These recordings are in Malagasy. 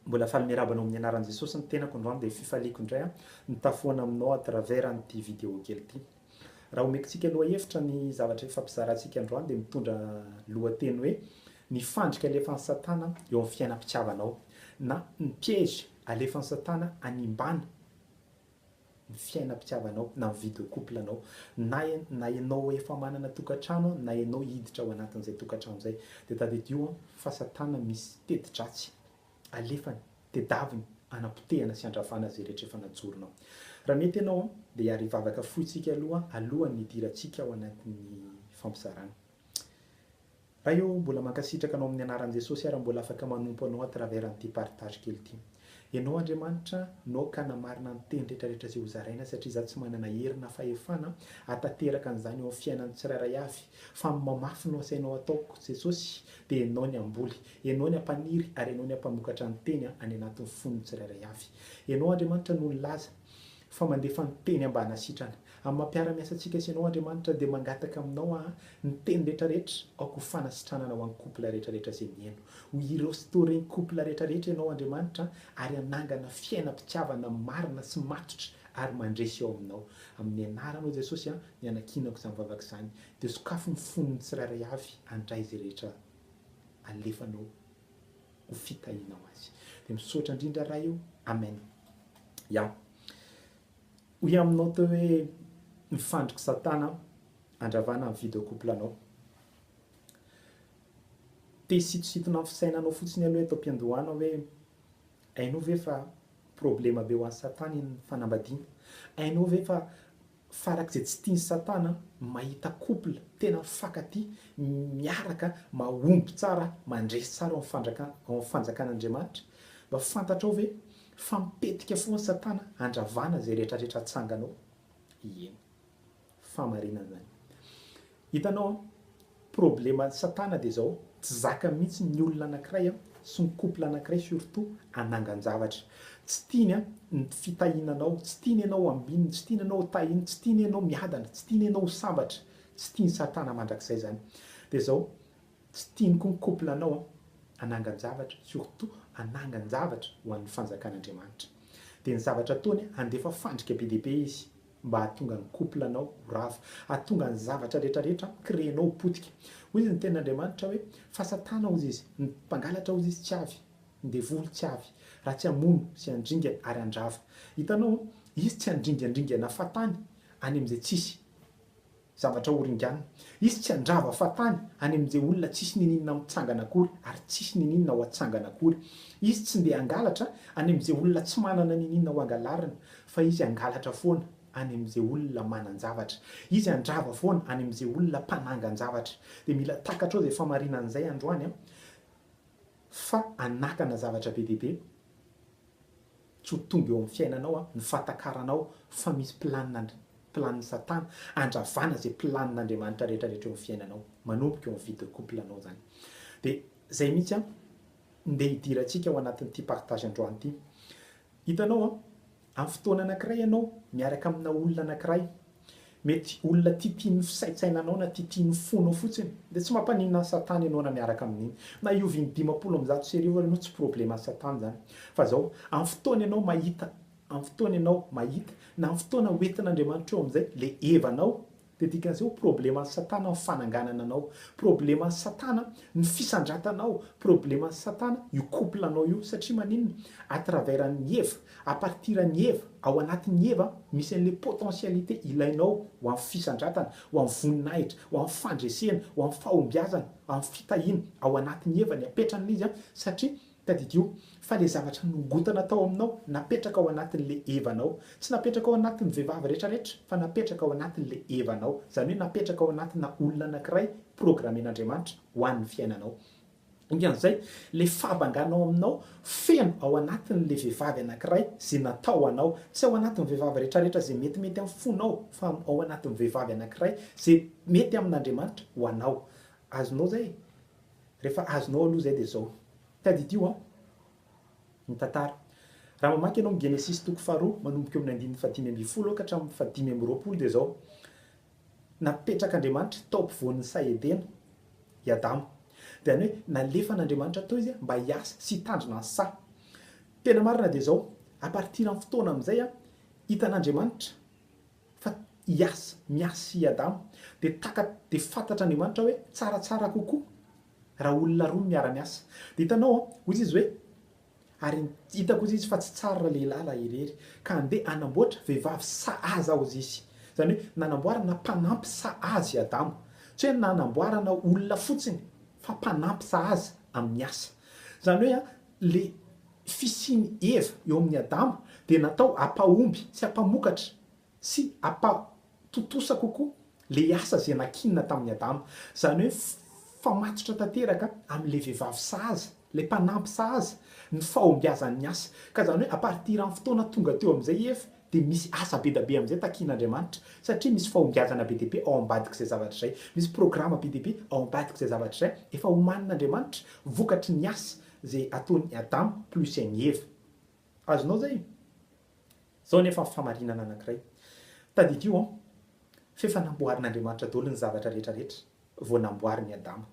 Mbola faly miarahaba anao amin'ny anaran'i Jesosy ny tenako androany dia fifaliako indray an mitaha foana aminao à travers an'ity vidéo kely ity. Raha homekintsika lohahevitra ny zavatra hifampizarantsika androany dia mitondra lohateny hoe ny fandrika alefan'i Satana eo amin'ny fiainam-pitiavanao na ny piège alefan'i Satana hanimbana ny fiainam-pitiavanao na ny vie de couple anao na na ianao efa manana tokantrano an na ianao hiditra ao anatin'izay tokantrano izay dia tadidio an fa satana misy teti-dratsy alefany tedaviny anapotehana sy andravana izay rehetra efa najoronao raha mety ianao an dia hiary hivavaka foitsika aloha alohan'ny hidirantsika ao anatin'ny fampizarana Ray ô, mbola mankasitraka Anao amin'ny anaran'i Jesosy aho raha mbola afaka manompo Anao à travers an'ity partage kely ity. Ianao Andriamanitra no ka namarina ny teny rehetra rehetra izay ho zaraina satria izaho tsy manana hery na fahefana atanteraka an'izany eo amin'ny fiainan'ny tsirairay avy fa amin'ny mamafy no asainao ataoko Jesosy dia Ianao ny hamboly, Ianao ny hampaniry ary Ianao ny hampamokatra ny teny any anatin'ny fon'ny tsirairay avy. Ianao Andriamanitra no nilaza fa mandefa ny teny ambanasitrana. Amin'ny maha mpiara-miasa antsika sy ianao Andriamanitra dia mangataka aminao aho ny teny rehetra rehetra aoka ho fanasitranana ho an'ny couple rehetra rehetra izay mihaino. Ho irestaurer ny couple rehetra rehetra ianao Andriamanitra ary hanangana fiainam-pitiavana marina sy matotra ary mandresy eo aminao. Amin'ny anaranao Jesosy aho no ianakinako izany vavaka izany dia sokafy ny fon'ny tsirairay avy handray izay rehetra alefanao ho fitahiana ho azy. Dia misaotra indrindra Ray o. Amen. Ya. Hoy aminao teo hoe mifandrik'i satana andravana ny vie de couple anao. Te sitositona ny fisainanao fotsiny aloha eto am-piandohana hoe hainao ve fa problema be ho an'i satana iny fanambadiana? Hainao ve fa Farak'izay tsy tian'i Satana ny mahita couple tena mifankatia, miaraka, mahomby tsara, mandresy tsara ao amin'ny ao amin'ny fanjakan'Andriamanitra. Mba fantatrao ve fa mipetika foana Satana handravana izay rehetrarehetra atsanganao? Ieny. Fahamarinana izany. Hitanao an, probleman'i satana dia izao, tsy zakany mihitsy ny olona anankiray an, sy ny couple anankiray surtout hanangan-javatra. Tsy tiany an, ny fitahiana anao, tsy tiany ianao ho ambininy, tsy tiany ianao ho tahiny, tsy tiany ianao miadana, tsy tiany ianao ho sambatra, tsy tian'i satana mandrakizay izany. Dia izao, tsy tiany koa ny couple anao an, hanangan-javatra, surtout hanangan-javatra ho an'ny fanjakan'Andriamanitra. Dia ny zavatra ataony an, handefa fandrika be dia be izy, mba hahatonga ny couple anao ho rava, hahatonga ny zavatra rehetra rehetra créer-nao ho potika. Hoy izy ny tenin' Andriamanitra hoe, Fa Satana hozy izy, ny mpangalatra hozy izy tsy avy, ny devoly tsy avy, raha tsy hamono sy handringa ary handrava. Hitanao, izy tsy handringan-dringana fahatany any amin'izay tsisy. Zavatra horinganina. Izy tsy handrava fahatany any amin'izay olona tsisy niniana mitsangana akory ary tsisy niniana ho atsangana akory. Izy tsy ndeha hangalatra any amin'izay olona tsy manana niniana ho angalarina fa Izy hangalatra foana any amin'izay olona manan-javatra. Izy handrava foana any amin'izay olona mpanangan-javatra. Dia mila takatrao izay famarinana izay androany an! Fa hanakana zavatra be dia be. Tsy ho tonga eo amin'ny fiainanao an, ny fahatakaranao fa misy planina ndry planin'i satana andravana izay planin'Andriamanitra rehetra rehetra eo amin'ny fiainanao. Manomboka eo amin'ny vie de couple anao izany. Dia izay mihitsy an, ndeha hidirantsika ao anatin'ity partage androany ity. Hitanao an, amin'ny fotoana anankiray ianao miaraka amina olona anankiray, Mety olona tia tian'ny fisaintsainanao na tia tian'ny fonao fotsiny, dia tsy mampaninona an'i Satana ianao na miaraka amin'iny. Na hiovy in-dimampolo amin'ny zato sy arivo ary ianao tsy probleman'i Satana izany. Fa izao, amin'ny fotoana ianao mahita, amin'ny fotoana ianao mahita, na amin'ny fotoana ho entin'Andriamanitra eo amin'izay ilay hevanao, dia dikan'izay ho probleman'i Satana ny fananganana anao, probleman'i Satana ny fisandratanao, probleman'i Satana io couple-nao io. Satria maninona? À travers an'i Eva, A partir an'i Eva, ao anatin'i Eva misy an'ilay potentialité ilainao ho amin'ny fisandratana, ho amin'ny voninahitra, ho amin'ny fandresena, ho amin'ny fahombiazana, ho amin'ny fitahiana. Ao anatin'i Eva ny apetran'ilay izy satria, tadidio, fa ilay zavatra nongotana tao aminao, napetraka ao anatin'ilay Eva-nao. Tsy napetraka ao anatin'ny vehivavy rehetrarehetra fa napetraka ao anatin'ilay Eva-nao. Izany hoe napetraka ao anatina olona anankiray programen'Andriamanitra ho an'ny fiainanao. Dikan'izay, ilay fahabangana ao aminao feno ao anatin'ilay vehivavy anankiray izay natao anao. Tsy ao anatin'ny vehivavy rehetrarehetra izay metimety amin'ny fonao, fa ao anatin'ny vehivavy anankiray izay mety amin'Andriamanitra ho anao. Azonao izay e? Rehefa azonao aloha izay dia izao, tadidio an! ny tantara. Raha mamaky ianao ny Genesisy toko faharoa, manomboka eo amin'ny andininy fahadimy ambin'ny folo ka hatramin'ny fahadimy amby roapolo dia izao, Napetrak'Andriamanitra tao ampovoan'ny saha Edena i Adama. Dia any hoe nalefan'Andriamanitra tao izy mba hiasa sy hitandrina ny saha. Tena marina dia izao, à partir amin'ny fotoana amin'izay hitan'Andriamanitra fa hiasa, miasa i Adama, dia taka, dia fantatr'Andriamanitra hoe tsaratsara kokoa raha olona roa no miara-miasa. Dia hitanao, hoy izy hoe. Ary hitako zisy fa tsy tsar ra lehilahy ra irery ka ande anamboatra vehivavy sahaza aho zisy zany hoe nanamboarana mpanampy sahazy adama tsy hoe nanamboarana olona fotsiny fa mpanampy sahaza amin'ny asa zany hoe a le fisian'i eva eo amin'ny adama dia natao apahomby sy apamokatra sy hampatontosa kokoa ilay asa izay nakianina tamin'i Adama, izany hoe mifamatotra tanteraka amin'ilay vehivavy sahaza, ilay mpanampy sahaza, ny fahombiazan'ny asa. Ka izany hoe à partir amin'ny fotoana tonga teo amin'izay i Eva, dia misy asa be dia be amin'izay takian'Andriamanitra, satria misy fahombiazana be dia be ao ambadik'izay zavatra izay, misy programa be dia be ao ambadik'izay zavatra izay efa homanin'Andriamanitra vokatry ny asa izay ataon'i Adama plus an'i Eva. Azonao izay? Izao anefa famarinana anankiray. Tadidio an! F'efa namboarin'Andriamanitra daholo ny zavatra rehetra rehetra vao namboarin'i Adama.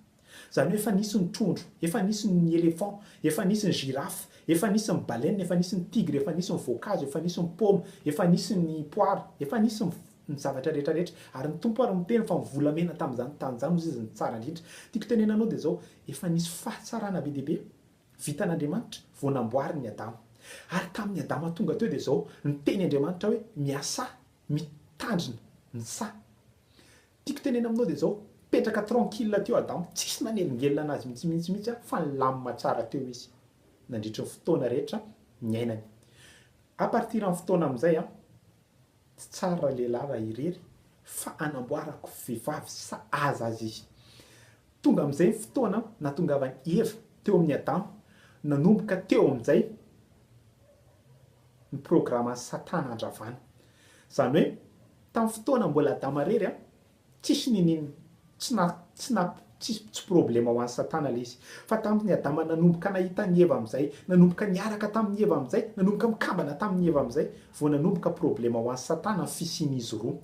Izany hoe efa nisy ny trondro, efa nisy ny éléphant, efa nisy ny girafe, efa nisy ny baleine, efa nisy ny tigre, efa nisy ny voankazo, efa nisy ny paoma, efa nisy ny poara, efa nisy ny ny zavatra rehetra rehetra. Ary ny Tompo ary miteny fa ny volamena tamin'izany tany izany hozy izy no tsara indrindra. Tiako tenenana anao dia izao, efa nisy fahatsarana be dia be. Vitan'Andriamanitra vao namboarin'i Adama. Ary tamin'ny Adama tonga teo dia izao niteny Andriamanitra hoe miasà, mitandrina ny saha. Tiako tenena aminao dia izao, petraka tranquille teo Adama, tsisy nanelingelina anazy mihitsymihitsymihitsy an, fa nilamina tsara teo izy nandritry ny fotoana rehetra niainany. A partir amin'ny fotoana amin'izay an. Tsy tsara raha lehilahy raha irery fa anamboarako vehivavy sahaza azy izy. Tonga amin'izay ny fotoana nahatongavan'i Eva teo amin'i Adama, nanomboka teo amin'izay ny programan'i Satana handravana. Izany hoe tamin'ny fotoana mbola Adama irery Tsisy ninin tsy na tsy na tsy tsy problema ho an'i satana le izy fa tamin'i adama nanomboka nahita an'i eva amin'izay nanomboka niaraka tamin'i eva amin'izay nanomboka mikambana tamin'i eva amin'izay vao nanomboka problema ho an'i satana ny fisian'izy roa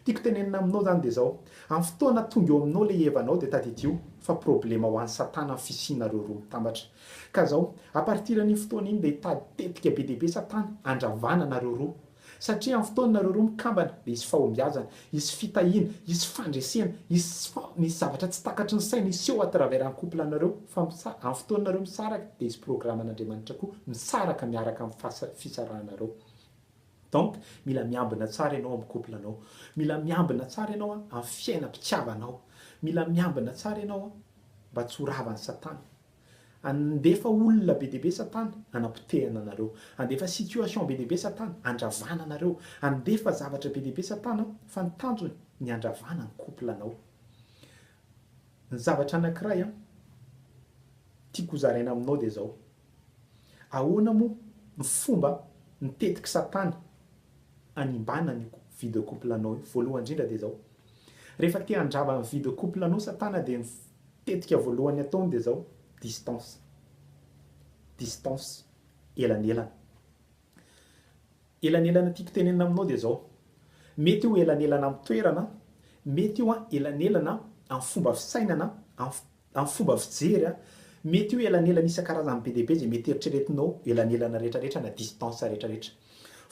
tiako tenenina aminao zany de zao amin'ny fotoana tonga eo aminao le evanao de tadidio fa problema ho an'i satana ny fisianareo roa mitambatra ka zao à partir an'iny fotoana iny de hitady tetika be dia be satana handravana anareo roa Satria amin'ny fotoanareo roa mikambana dia hisy fahombiazana, hisy fitahiana, hisy fandresena, hisy fa misy zavatra tsy takatry ny saina hiseho à travers ny couple anareo fa amin'ny fotoanareo misaraka dia hisy programme an'Andriamanitra koa misaraka miaraka amin'ny fahasa fisarahanareo donc mila miambina tsara ianao amin'ny couple anao mila miambina tsara ianao amin'ny fiainam-pitiavanao mila miambina tsara ianao mba tsy ho ravan'i satana Handefa olona be dia be Satana hanapotehana anareo. Handefa situation be dia be Satana handravana anareo. Handefa zavatra be dia be Satana fa ny tanjony ny handravana ny couple-nao. Ny zavatra anankiray an, tiako hozaraina aminao dia izao, ahoana moa ny fomba mitetik'i Satana hanimbana an'io vie de couple-nao io? Voalohany indrindra dia izao, rehefa te handrava ny vie de couple-nao Satana dia ny. Tetika voalohany ataony dia izao, distance, distance, elanelana. Elanelana tiako tenenina aminao dia izao, mety io elanelana amin'ny toerana, mety io elanelana amin'ny fomba fisainana, amin'ny fomba fijery, mety io elanelana isan-karazany be dia be izay mety eritreretinao, elanelana rehetrarehetra na distance rehetrarehetra.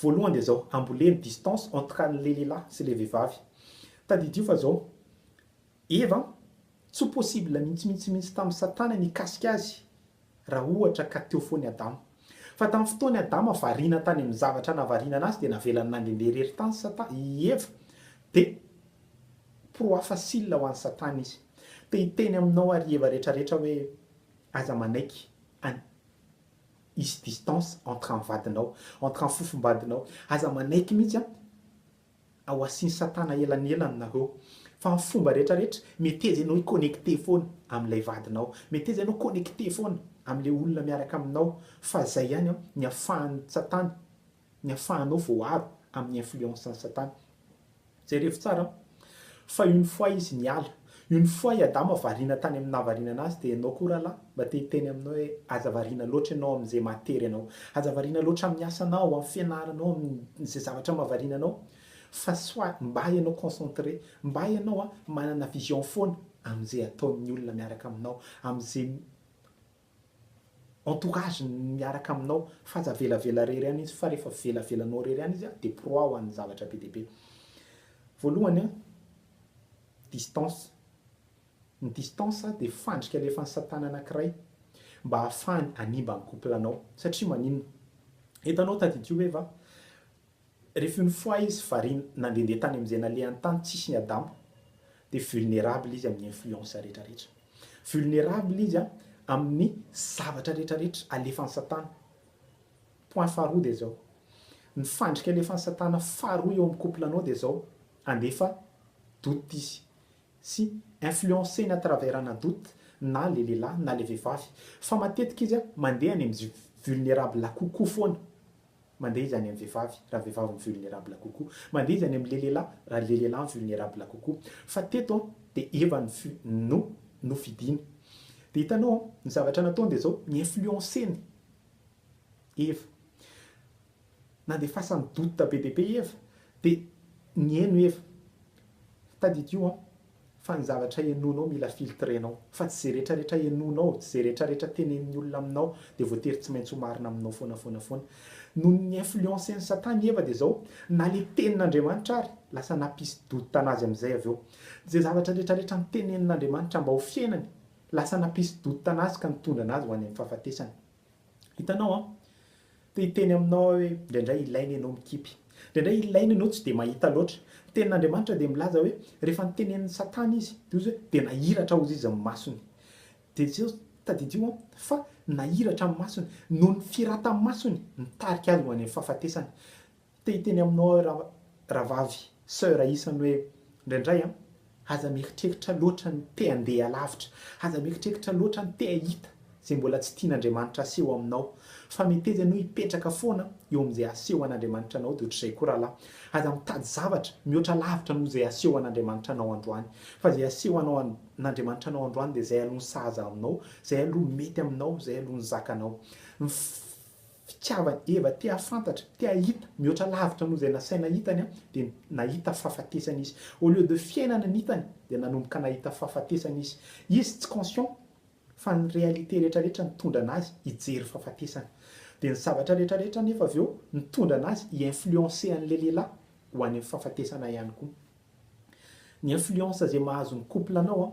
Voalohany dia izao, amboleno, distance, entre an'ilay lehilahy sy ilay vehivavy. Tadidio fa izao, Eva an! Tsy ho possible mihintsy mihintsy mihintsy tamin'i Satana ny hikasika azy raha ohatra ka teo foana i Adama. Fa tamin'ny fotoan'i Adama variana tany amin'ny zavatra nahavariana anazy dia navelany nandehandeha irery tany Sata, i Eva. Dia pro hafa sila ho an'i Satana izy. Te hiteny aminao ary i Eva rehetra rehetra hoe aza manaiky an hisy distance entre an'ny vadinao, entre an'ny fofombadinao. Aza manaiky mihintsy an! Ao asiny satana elanelany nareo. Fa ny fomba rehetra rehetra meteza enao hiconnecter foana amin'ilay vadinao. Meteza enao connecter foana amin'ilay olona miaraka aminao fa zay ihany an ny afahan'ny tsatana ny afahanao voaaro amin'ny influence ny satana. Jereo tsara an. Fa une fois izy niala. Io ny foi i Adama variana tany amin'ny nahavariana anazy dia ianao koa rahalahy mba te hiteny aminao hoe aza variana loatra ianao amin'izay mahatery anao. Aza variana loatra amin'ny asanao, amin'ny fianaranao, amin'izay zavatra mahavariana anao fa soit mba ianao concentré, mba ianao an manana vision foana amin'izay ataon'ny olona miaraka aminao, amin'izay. Entourage ny miaraka aminao fa aza avelavela rery any izy fa refa velavelanao rery any izy de proao any zavatra be dia be. Voalohany a distance, ny distance dia fandrika alefan'i satana anakiray mba ahafahany hanimba ny couple anao satria maninona eto anao tadidio hoe va Rehefa une fois izy variana nandehandeha tany amin'izay nalehany tany tsisy ny adambo dia vulnerable izy amin'ny influence rehetra rehetra. Vulnerable izy amin'ny zavatra rehetra rehetra alefan'i satana. Point faharoa dia izao, ny fandrika alefan'i satana faharoa eo amin'ny couple anao dia izao, handefa doute izy sy influenceny à travers ana doute na le lehilahy na le vehivavy fa matetika izy mandeha any amin'ny vulnerable kokoa foana. Mandeha izy any amin'ny vehivavy raha vehivavy mi-vulnerable kokoa. Mandeha izy any amin'ny lelelahy raha lelelahy mi-vulnerable kokoa. Fa teto an, dia Eva no fi, no, no fidiny. Dia hitanao an, ny zavatra nataony dia izao, ni-influencer-ny Eva. Nandefasany doute be dia be Eva. Dia nihaino Eva. Tadidio an, Fa ny zavatra henoinao mila filtrenao. Fa tsy izay rehetra rehetra henoinao, tsy izay rehetra rehetra tenenin'ny olona aminao dia voatery tsy maintsy ho marina aminao foana foana foana. Noho ny influencen'i Satana i Eva dia izao, na ilay tenin'Andriamanitra ary, lasa nampisy doute anazy amin'izay avy eo. Izay zavatra rehetra rehetra notenenin'Andriamanitra mba ho fiainany, lasa nampisy doute anazy ka nitondra anazy ho any amin'ny fahafatesana. Hitanao an! Te hiteny aminao aho hoe indraindray ilaina ianao mikipy. Indraindray ilaina ianao tsy dia mahita loatra. Ny Tenin'Andriamanitra dia milaza hoe rehefa notenenin'i Satana izy, dia hoy izy hoe dia nahiratra hozy izy amin'ny masony. Dia zao, tadidio an, fa nahiratra amin'ny masony, noho ny firatan-masony nitarika azy ho any amin'ny fahafatesana. Te hiteny aminao aho ra ravavy, soeur isany hoe indraindray an, aza mieritreritra loatra ny te handeha lavitra, aza mieritreritra loatra ny te hahita izay mbola tsy tian'Andriamanitra aseho aminao, fa meteza ianao hipetraka foana eo amin'izay aseho an'Andriamanitra anao, dia ohatr'izay koa rahalahy, aza mitady zavatra mihoatra lavitra noho izay aseho an'Andriamanitra anao androany, fa izay aseho anao an, n'Andriamanitra anao androany dia izay aloha ny sahaza aminao, izay aloha mety aminao, izay aloha ny zakanao. Ny. Fitiavany Eva te hahafantatra, te hahita mihoatra lavitra noho izay nasaina hitany dia nahita fahafatesana izy. Au lieu de fiainana ny hitany dia nanomboka nahita fahafatesana izy. Izy tsy conscient fa ny réalité rehetra rehetra nitondra anazy hijery fahafatesana. Dia ny zavatra rehetra rehetra anefa avy eo nitondra anazy hi influencer an'ilay lehilahy ho any amin'ny fahafatesana ihany koa. Ny influence izay mahazo ny couple anao,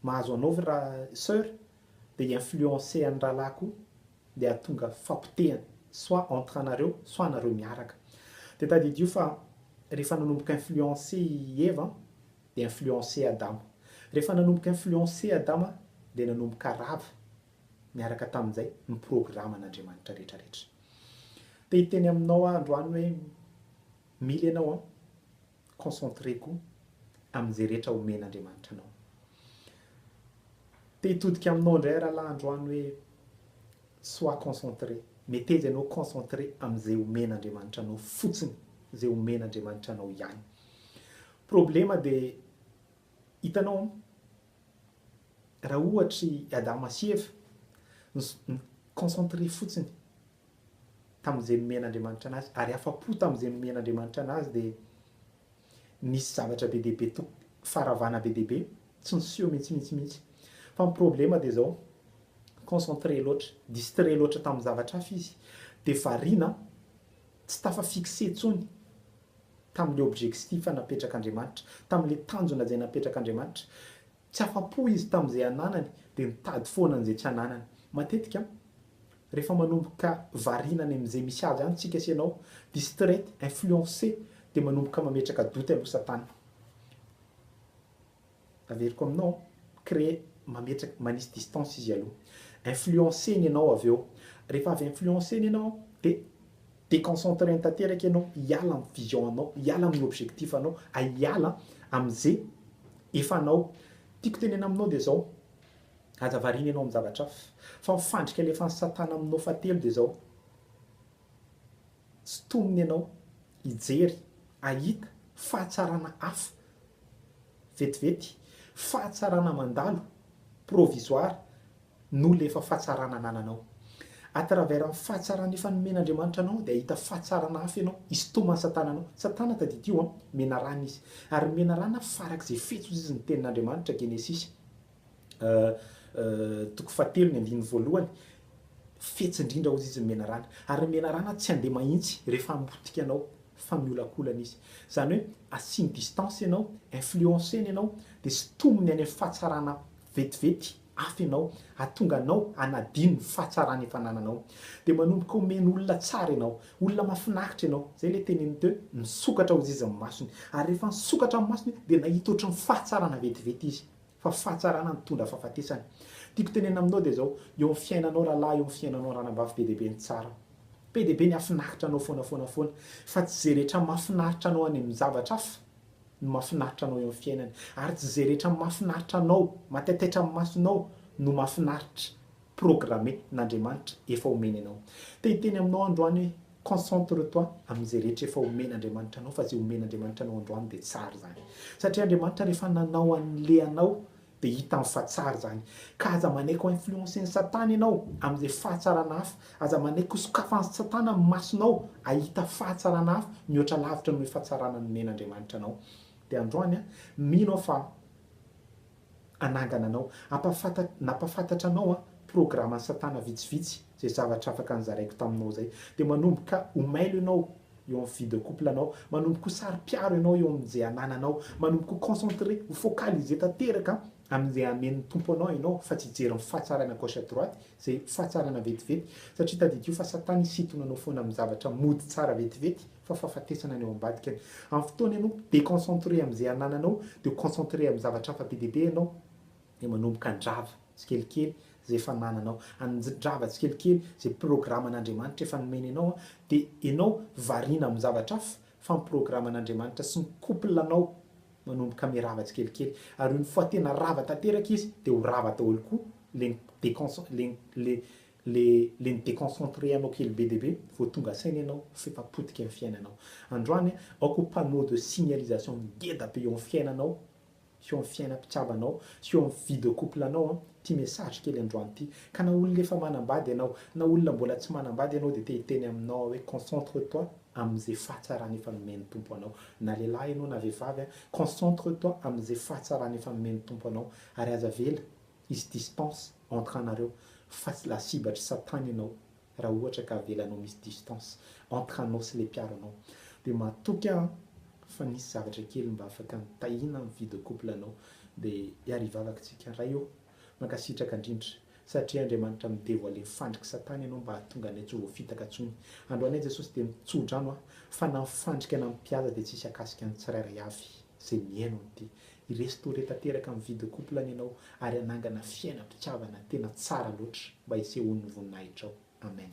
mahazo anao ry ra, soeur, dia hi influencer an'i rahalahy koa dia hahatonga fapotehana soit entre anareo soit anareo miaraka. Dia tadidio fa rehefa nanomboka influencer i Eva dia influencer Adama. Rehefa nanomboka influencer Adama dia nanomboka rava niaraka tamin'izay ny programan'Andriamanitra rehetra rehetra. Te hiteny aminao aho androany hoe mila ianao an! Concentré koa amin'izay rehetra omen'Andriamanitra anao. Te hitodika aminao indray rahalahy androany hoe sois concentré. Meteza ianao concentré amin'izay omen'Andriamanitra anao fotsiny, izay omen'Andriamanitra anao ihany. Problema dia hitanao raha ohatry Adama sy Eva, ny concentré fotsiny tamin'izay nomen'Andriamanitra anazy ary afa-po tamin'izay nomen'Andriamanitra anazy dia nisy zavatra be dia be to- faharavana be dia be tsy niseho mihitsy mihitsy mihitsy fa ny problema dia izao concentré loatra distré loatra tamin'ny zavatra hafa izy dia variana tsy tafa fixé tsony tamin'ilay objectif napetrak'Andriamanitra tamin'ilay tanjona izay napetrak'Andriamanitra Tsy afa-po izy tamin'izay ananany, dia nitady foana an'izay tsy ananany. Matetika, rehefa manomboka variana any amin'izay misy azy any tsika sy ianao, distrait, influencé, dia manomboka mametraka doute aloha Satana. Averiko aminao, créer, mametraka, manisy distance izy aloha. Influencé-ny ianao avy eo. Rehefa avy influencé-ny ianao, dia Déconcentrer-ny tanteraka ianao, hiala amin'ny vision anao, hiala amin'ny objectif anao, hiala amin'izay efa anao. Tiako tenena aminao dia izao, aza variana ianao amin'ny zavatra hafa, fa ny fandrika alefan'i satana aminao fahatelo dia izao, sintomina ianao hijery, hahita fahatsarana hafa vetivety, fahatsarana mandalo, provisoire, no lefa fahatsarana anananao. A travers ny fahatsarana efa nomen'Andriamanitra anao dia hahita fahatsarana hafa ianao histoman'i Satana anao. Satana tadidio an, menarana izy. Ary menarana farak'izay fetsozay izy ny tenin'Andriamanitra, Genesisy toko fahatelo ny andininy voalohany, fetsy indrindra hozy izy ny menarana. Ary ny menarana tsy handeha mahintsy rehefa hambotika anao fa miolakolana izy. Zany hoe asiany distance ianao, influenceny ianao dia sitominy any amin'ny fahatsarana vetivety. hafa ianao, hahatonga anao hanadino ny fahatsarana efa anananao. Dia manomboka omena olona tsara ianao, olona mahafinaritra ianao. Izay ilay teneniny teo hoe, Nisokatra ho zizin'ny masony. Ary rehefa nisokatra amin'ny masony, dia nahita ohatry ny fahatsarana vetivety izy. Fa fahatsarana nitondra fahafatesana. Tiako tenenina aminao dia izao, eo amin'ny fiainanao rahalahy, eo amin'ny fiainanao ranabavy, be dia be ny tsara. Be dia be ny hahafinaritra anao foana foana foana. Fa tsy izay rehetra mahafinaritra anao any amin'ny zavatra hafa ny mahafinaritra anao eo amin'ny fiainana ary tsy izay rehetra mahafinaritra anao, matetaitra amin'ny masonao no mahafinaritra, programme, n'Andriamanitra efa omeny anao. Te hiteny aminao androany hoe concentre toi amin'izay rehetra efa omen'Andriamanitra anao fa izay omen'Andriamanitra anao androany dia tsara izany. Satria Andriamanitra rehefa nanao an'le anao Dia hitany fa tsara izany. Ka aza manaiky ho influencen'i Satana ianao amin'izay fahatsarana hafa. Aza manaiky ho sokafan'i Satana ny masonao hahita fahatsarana hafa mihoatra lavitra noho io fahatsarana nomen'Andriamanitra anao. Dia androany, mino aho fa hanangana anao. Hampahafantatra, na hampahafantatra anao, programan'i Satana vitsivitsy. Zay zavatra afaka nozaraiko taminao zay. Dia manomboka ho mailo ianao eo amin'ny vie de couple anao. Manomboka ho saro-piaro ianao eo amin'izay anananao. Manomboka ho concentré, ho focalisé tanteraka amin'izay hamen'ny Tompo anao ianao fa tsy hijery ny fahatsarana gauche à droite, izay fahatsarana vetivety. Satria tadidio fa Satana hisintona anao foana amin'ny zavatra mody tsara vetivety fa fahafatesana ny ao ambadikany. Amin'ny fotoana ianao déconcentré amin'izay anananao dia ho concentré amin'ny zavatra hafa be dia be ianao. dia manomboka handrava tsikelikely izay fanananao, handrava tsikelikely izay programan'Andriamanitra efa nomeny anao, dia ianao variana amin'ny zavatra hafa fa ny programan'Andriamanitra sy ny couple anao manomboka mirava tsikelikely, ary io mifoha tena rava tanteraka izy dia ho rava daholo koa ilay ni-deconce- ilay ilay ilay ilay ni-deconcentrer anao kely be dia be vao tonga saina ianao fa efa potika ny fiainanao. Androany aho aoka ho panneau de signalisation ngeda be eo amin'ny fiainanao eo amin'ny fiaina mpitiavanao sy eo amin'ny vie de couple anao an ity message kely androany ity ka na olona efa manambady ianao na olona mbola tsy manambady ianao dia te hiteny aminao aho hoe concentre toi amin'izay fahatsarana efa nomen'ny Tompo anao na lehilahy ianao na vehivavy an concentre toi amin'izay fahatsarana efa nomen'ny Tompo anao ary aza avela hisy distance entre anareo fa lasibatra satana ianao Raha ohatra ka avelanao misy distance entre anao sy le mpiaro anao de matoky an fa nisy zavatra kely mba afaka nitahiana ny vie de couple anao de hiaro hivavaka tsika Ray ô mankasitraka indrindra satria Andriamanitra mi devoile fandrik'i satana ianao mba hahatonga anay tsy ho voafitaka tsony androanay Jesosy de mitsodrano an fa na ny fandrika na ny mpihaza de tsisy akasika ny tsirairay avy zay mihaino an'ity Hi-restaurer tanteraka amin'ny vie de couple-ny ianao ary hanangana fiainam-pitiavana tena tsara loatra mba hisehoan'ny voninahitrao. Amen.